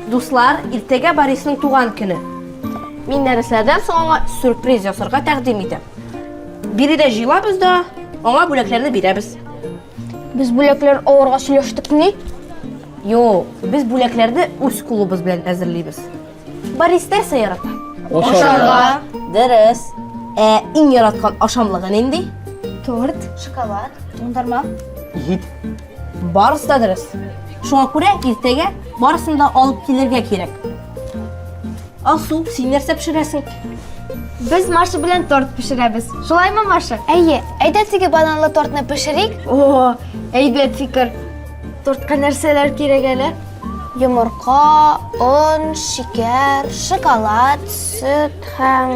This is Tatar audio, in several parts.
Дуслар, иртәгә Борисның туган көне. Мин нәрсәдән соң аңа сюрприз ясарга тәкъдим итәм. Биредә җыйлабыз да, аңа бүләкләрне бирәбез. Без бүләкләр алырга сөйләштекме? Юк, без бүләкләрне үз кулыбыз белән әзерлибез. Баристер сыйрата. Ашарга. Дөрес. Ә иң яраткан ашамлыгы нинди? Торт, шоколад, туңдырма. Ит. Барысы да дөрес. Шуңа күрә иртәгә барысын да алып килергә кирәк. Алсу, син нәрсә пешерәсең? Без Маша белән торт пешерәбез. Шулаймы, Маша? Әйе, әйдә теге бананлы тортны пешерик. О, әйбәт фикер. Тортка нәрсәләр кирәк әле? Йомырка, он, шикәр, шоколад, сөт һәм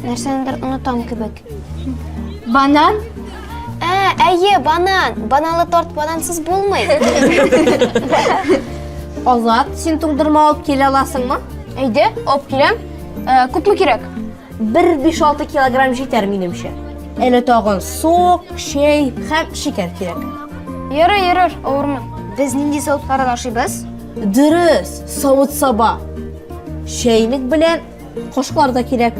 нәрсәнедер онытам кебек. Банан? Ә, әйе, банан. Бананлы торт банансыз булмый. Азат, син туңдырма алып килә аласыңмы? Әйдә, алып киләм. Ә, күпме кирәк? Бер биш-алты килограмм җитәр, минемчә. Әле тагын сок, чәй һәм шикәр кирәк. Йөрер, йөрер, авырмы? Без нинди савытлардан ашыйбыз? Дөрес, савыт-саба. Чәйнек белән кашыклар да кирәк.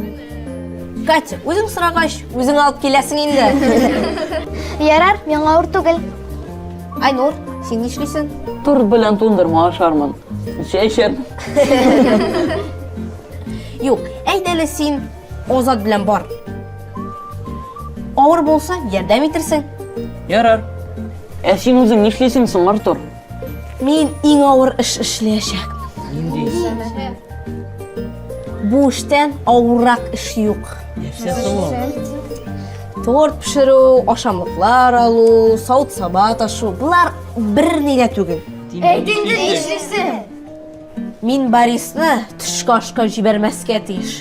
Катя, үзең сорагач, үзең алып киләсең инде. Ярар, миңа авыр түгел. Айнур, син нишлисең? Торт белән туңдырма ашармын. Чәй эчәрмен. Юк, әйт әле син Азат белән бар. Авыр булса, ярдәм итерсең. Ярар. Ә син үзең нишлисең соң, Артур? Мин иң авыр эш эшләячәк. Нинди? Бу эштән авыррак эш юк. Нәрсә соң ул? Торт пешерү, ашамлыклар алу, савыт-саба ташу, болар бер нигә түгел. Әйт инде нишлисең? Мин Борисны төшке ашка җибәрмәскә тиеш.